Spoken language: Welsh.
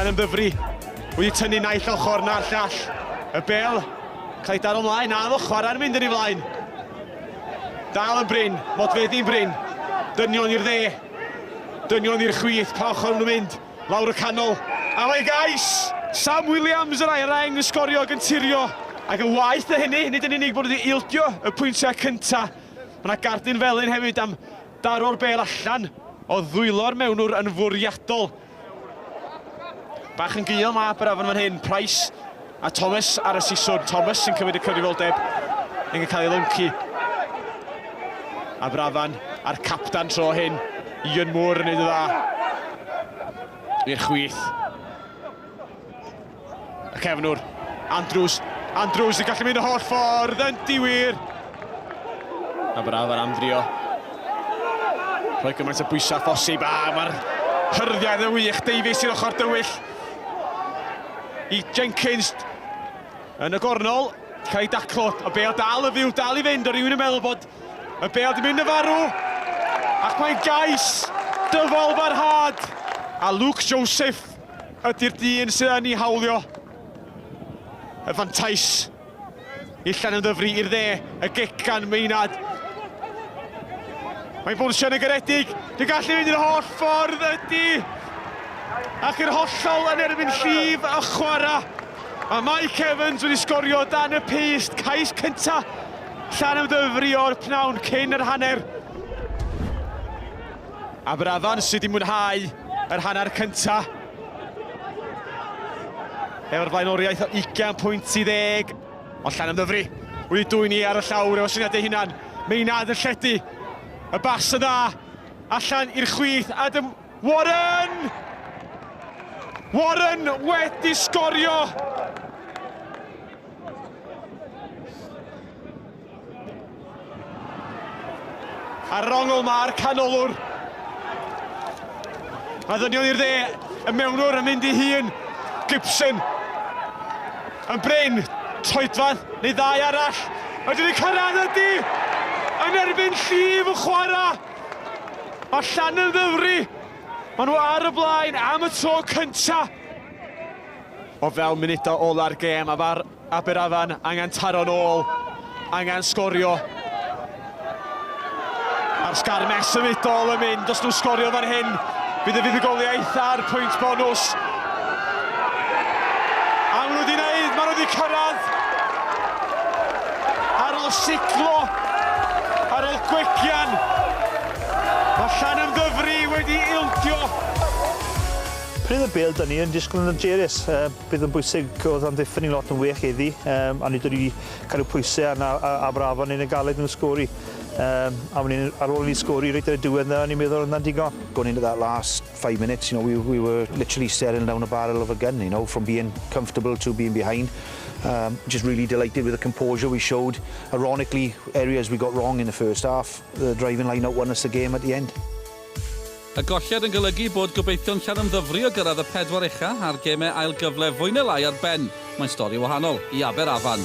Llan yn ddyfru, wedi tynnu naill ochr na'r llall. Y bel, cael ei daro ymlaen, a fo chwarae'n mynd yn ei flaen. Dal yn bryn, modfeddi'n bryn, dynion i'r dde, dynion i'r chwith, pa ochr nhw'n mynd. Lawr y canol, ar ei gais! Sam Williams yr aeraen yn sgorio ac yn tirio. Ac yn waeth na hynny, nid yn unig bod nhw wedi ildio y pwyntiau cyntaf, mae yna gardyn felyn hefyd am daro'r bêl allan o ddwylo'r mewnwr yn fwriadol. Bach yn gul mae Aberafan fan hyn, Price A Thomas ar y siswrn. Thomas yn cymryd y cyfrifoldeb yn cael ei lyncu. Aberafan a'r captan tro hyn. Ian Moore yn neud y dda. I'r chwith. Y cefnwr. Andrews. Andrews yn gallu mynd y holl ffordd yn diwir. Aberafan am drio. Rhoi gymaint o bwysau phosib a mae'r hyrddiau yn y wych. Davies i'r ochr dywyll. i Jenkins yn y gornol, cael ei daclo, y bel dal y fyw, dal i fynd, o rywun yn meddwl bod y bel di mynd yn farw, ac mae'n gais dyfal barhad, a Luke Joseph ydy'r dyn sydd yn ei hawlio y fantais. Illan yn ddyfru i'r dde, y gic gan Meinad. Mae'n bwrsio yn y garedig, dwi'n gallu mynd i'r holl ffordd ydy. Ac yr hollol yn erbyn llif y chwara. Mae Mike Evans wedi sgorio dan y paste, cais cynta. Llan ymddyfru o'r pnawn cyn yr hanner. Aberafan sydd wedi mwynhau yr hanner cynta. Efo'r blaenoriaeth o 20 pwynt i ddeg, ond llan ymddyfri wedi dwy'n i ar y llawr efo syniad ei hunan. Meinad yn lledu. Y bas y dda, allan i'r chwith, Adam Warren! Warren wedi sgorio! Ar rongl mae'r canolwr. A ddynion i'r dde, y mewnwr yn mynd i hun. Gibson. Yn bryn, troedfan, neu ddau arall. Ydyn ni'n cyrraedd ydy! Yn erbyn llif y chwarae. Mae llan yn ddyfru. Maen nhw ar y blaen am y tro cynta. O fewn munudau ola'r gêm a fa'r Aberafan angen taro'n ôl, angen sgorio. A'r sgarmes symudol yn mynd, os nhw'n sgorio fan hyn, bydd y fuddugoliaeth a'r pwynt bonus. A maen nhw wedi wneud, maen nhw wedi cyrraedd. Ar ôl siglo, ar ôl gwegian, mae Llan Ymddyfri wedi ildio. Pryd y bêl, dyn ni yn disgwyl yn hyderus. Bydd yn bwysig oedd amddiffyn ni'n lot yn well heddi, um, a nid wedi cael eu pwysau arna a, a brafon yn y galed yn y sgori. Um, a ni'n ar ôl ni sgori reit ar y diwedd na, ni'n meddwl yna'n digon. Going into that last five minutes, you know, we, we were literally staring down a barrel of a gun, you know, from being comfortable to being behind. Um, just really delighted with the composure we showed. Ironically, areas we got wrong in the first half, the driving line out won us the game at the end. Y golliad yn golygu bod gobeithion Llanymddyfri o gyrraedd y pedwar ucha a'r gemau ail gyfle fwy neu lai ar ben. Mae'n stori wahanol i Aber Afan.